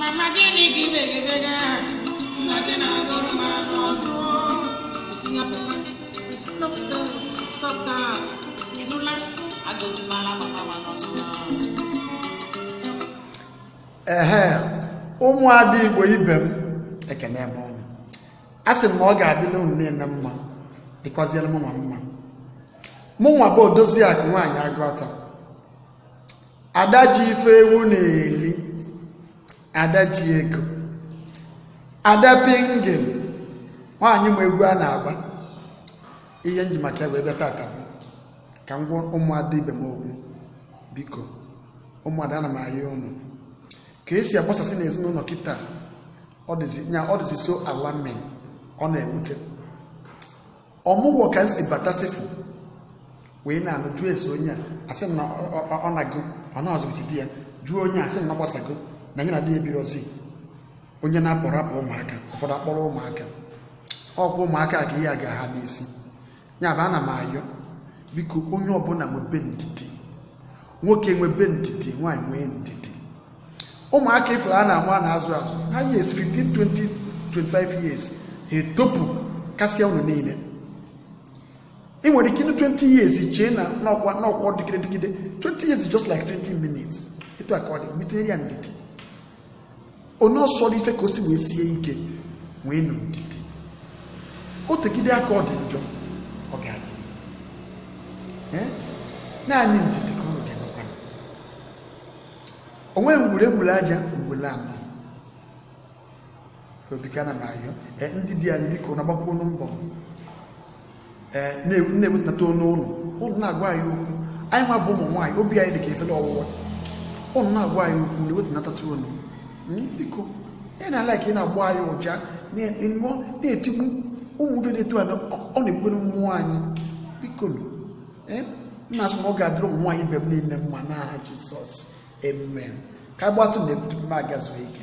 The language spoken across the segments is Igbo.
mama gịnị gị begibega nna gị na-agụrụ m anụ ọgụ Singapore, stop that, stop that. Ị nụla agụzimala mama ma nọ n'ụlọ. ehe ụmụada igbo ibe m ekenee m ụnụ asị m na ọ ga-adịlị unu niile mma dịkwazịrị mụ nwa mma mụ nwa bụ odozi akụ nwaanyị agụata ada ji ife ewu na-eli ada ji ego ada pingin nwaanyị ma egwu a na-agba ihe m ji maka ya wee bịa taata bụ ka m gwa ụmụada ibe m okwu biko ụmụada ana m ayọ ụnụ ka e si agbasasị n'ezinụlọ kịtaa ọ dịzi nya ọ dịzi so alarming ọ na-ewute ọmụgwọ ka m si bata sef wee na-anụ jụọ ese onye a a sị m na ọ nago ọ na-azụbụchi di ya jụọ onye a a sị m na ha gbasago na ya na di ya ebirozi onye na-apụ rapụ ụmụaka ụfọdụ akpọrọ ụmụaka ọ kwa ụmụaka ka ihe a ga-aha n'isi ya bụ ana m ayọ biko onye ọbụla nwebe ndidi nwoke nwebe ndidi nwaanyị nwee ndidi ụmụaka ị fụrụ a na-amụ a na-azụ azụ ha yes 15 20 25 years ha etopu kasịa unu niile ị nwere ike ine 20 years chee na n'ọkwa n'ọkwa dịgide dịgide 20 years just like 20 minutes etu a ka ọ dị ma i tinyere ya ndidi onye ọ sọrọ ife ka o si wee sie ike nweenụ ndidi o tegide aka ọ dị njọ ọ ga-adị naanị ndidi ka ụnụ ga-enwekwa onwe ngwere gburu aja ngwere anọ o biko ana m ayọ ndị di anyị biko na-agbakwunụ mbọ ee na-ewetunata ọnụ ụnụ ụnụ na-agwa anyị okwu anyị nwa bụ ụmụ nwaanyị obi anyị dị ka efere ọwụwa ụnụ na-agwa anyị okwu na-ewetunatatụ ọnụ hmm, biko unlike ị na-agba anyị ụja na-etiku ụmụ ife dị etu a ọ na-egbukwanụ mmụọ anyị biko eh, nna asị na ọ ga-adịrị ụmụ nwaanyị ibe m niile mma n'aha Jizọs amen ka agbatụ na-ebutu m gaa zuo ike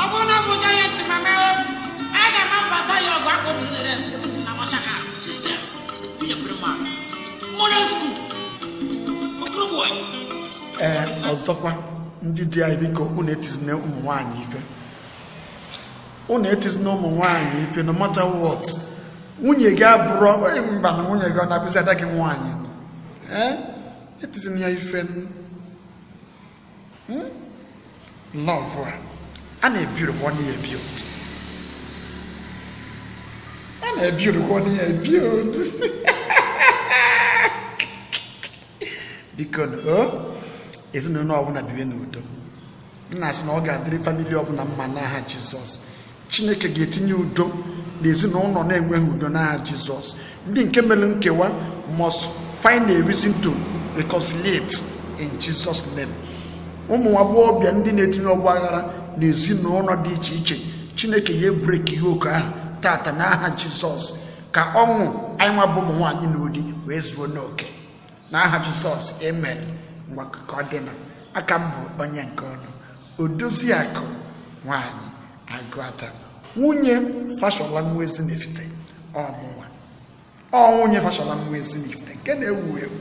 ọ bụrụ na m bụ giant mama aga m agbata ya ọgụ akpọ tinyere ebutu na mashaka site nwunye prima model school okoro bọị ee ọzọkwa ndị di anyị biko unu etizina ụmụ nwaanyị ife unu etizina ụmụ nwaanyị ife no matter what nwunye gị abụrọ onye mba na nwunye gị ọ na-abụzi ada gị nwaanyị nọ ee etizina ya ife nụ. Hmm? lọvụ a a na-ebiurukwa ọnụ ya ebi a na-ebiurukwa ọnụ ya ebi bikonụ ezinụlọ ọbụla bibe n'udo m na-asị na ọ ga-adịrị famili ọbụla mma n'aha Jizọs chineke ga-etinye udo na ezinụlọ na-enweghị udo n'aha jizọs ndị nke mere nkewa must find a reason to reconciliate in jesus name ụmụ agbọghọbịa ndị na-etinye ọgba aghara na ezinụlọ dị iche iche chineke ga-ebreki yoke ahụ taata n'aha jizọs ka ọṅụ anyịnwa bụ ụmụ nwaanyị na-anọ di wee zuo n'oke n'aha jizọs amen ngwa ka ọ dịnụ aka m bụ onye nke unu odoziakụ nwaanyị agụata nwunye fashola nwa ezinifite ọ mụnwa ọ nwunye fashola nwa ezinifite nke na-ewu ewu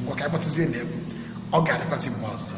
ngwa ka a kpọtụzie n'egwu ọ ga-adịkwazị mgbe ọzọ